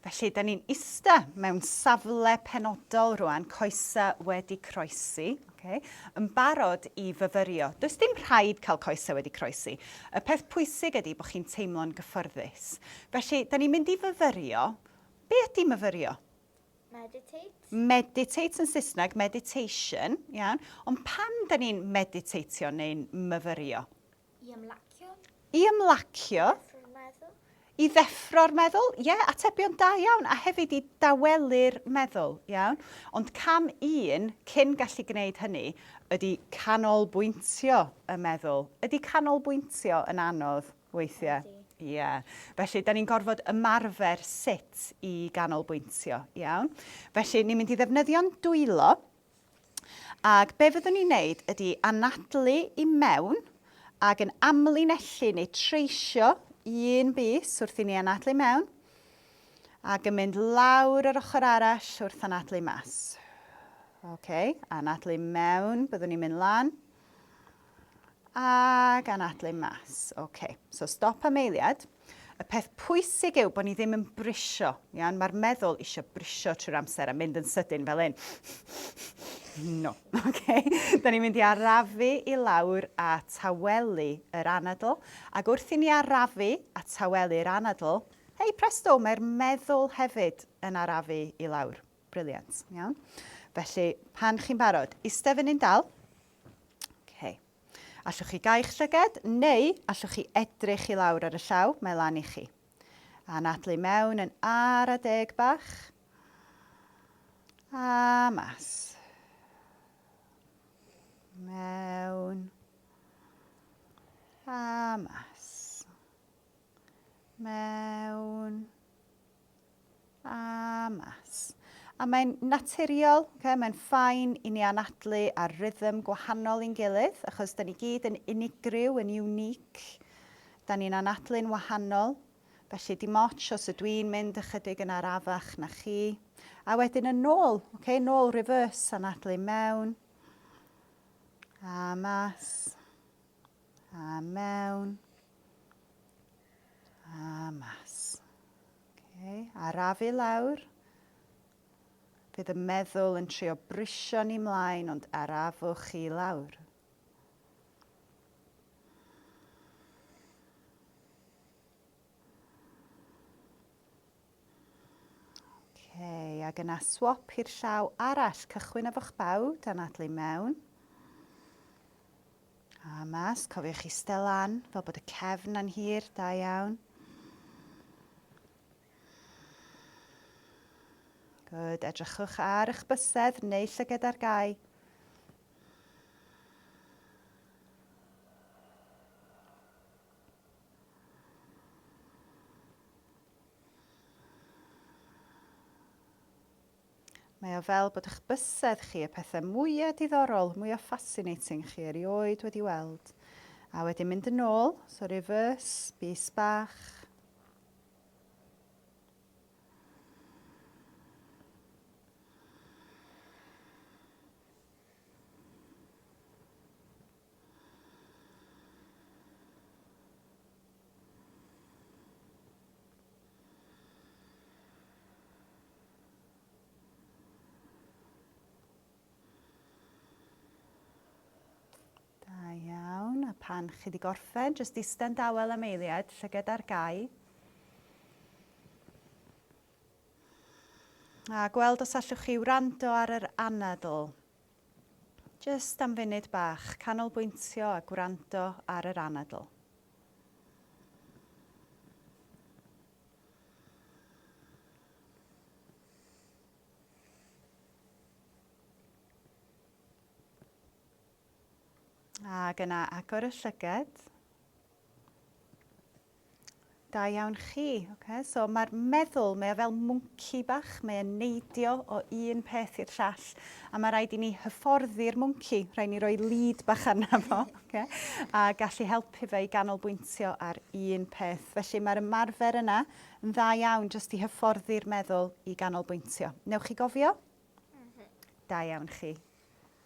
Felly, da ni'n ista mewn safle penodol rwan, coesa wedi croesi, okay, yn barod i fyfyrio. Does dim rhaid cael coesa wedi croesi. Y peth pwysig ydy bod chi'n teimlo'n gyffyrddus. Felly, da ni'n mynd i fyfyrio. Be ydy myfyrio? Meditate. Meditate yn Saesneg, meditation, iawn. Ond pam da ni'n meditateio neu'n myfyrio? I ymlacio. I ymlacio. I ddeffro'r meddwl. Ie, yeah, atebion da iawn. A hefyd i dawelu'r meddwl, iawn. Ond cam un cyn gallu gwneud hynny ydy canolbwyntio y meddwl. Ydy canolbwyntio yn anodd weithiau? Ydy. Ie. Yeah. Felly, da ni'n gorfod ymarfer sut i ganolbwyntio, iawn? Felly, ni'n mynd i ddefnyddio'n dwylo, Ac be fyddwn ni'n neud ydi anadlu i mewn ac yn amlinellu neu treisio un bys wrth i ni anadlu i mewn ac yn mynd lawr yr ochr arall wrth anadlu mas. Ok, anadlu mewn, byddwn ni'n mynd lan. Ac anadlu mas. OK. So stop am eiliad. Y peth pwysig yw bod ni ddim yn brisio. Iawn? Mae'r meddwl eisiau brisio trwy'r amser a mynd yn sydyn fel un. No. OK. Da ni'n mynd i arafu i lawr a tawelu yr anadl. Ac wrth i ni arafu a tawelu'r anadl, hei presto, mae'r meddwl hefyd yn arafu i lawr. Brilliant. Iawn. Felly, pan chi'n barod, iste fyny'n dal. OK. Allwch chi gau'ch llyged, neu allwch chi edrych i lawr ar y llaw, mae lan i chi. A nadlu mewn yn ar a deg bach. A mas. Mewn. A mas. mewn a mas. A mae'n naturiol, okay? mae'n ffain i ni anadlu ar rhythm gwahanol i'n gilydd, achos da ni gyd yn unigryw, yn unique. Da ni'n anadlu'n wahanol. Felly dim ots os ydw i'n mynd ychydig yn arafach na chi. A wedyn yn nôl, okay? nôl reverse, anadlu mewn a mas. A mewn. A mas. Okay. Arafu lawr. Bydd y meddwl yn trio brisio ni mlaen, ond arafwch chi lawr. Okay, ac yna swap i'r llaw arall. Cychwyn efo'ch baw, dan adlu mewn. A mas, cofiwch eistedd lan, fel bod y cefn yn hir, da iawn. Good, edrychwch ar eich bysedd neu llyged ar gau. Mae o fel bod eich bysedd chi, y pethe mwya diddorol, mwya fascinating chi erioed wedi weld. A wedyn mynd yn ôl, so reverse, bys bach. pan chi wedi gorffen, jyst ista'n dawel am eiliad, llyged ar gau. A gweld os allwch chi wrando ar yr anadl. Jyst am funud bach, canolbwyntio a gwrando ar yr anadl. Ac yna agor y llygad. Da iawn chi. Oce, so mae'r meddwl, mae o fel mwnci bach, mae e'n neidio o un peth i'r llall, a mae rhaid i ni hyfforddi'r mwnci, rhaid ni roi lead bach arna fo, oce, a gallu helpu fe i ganolbwyntio ar un peth. Felly mae'r ymarfer yna yn dda iawn jyst i hyfforddi'r meddwl i ganolbwyntio. Newch chi gofio? Mhm. Da iawn chi.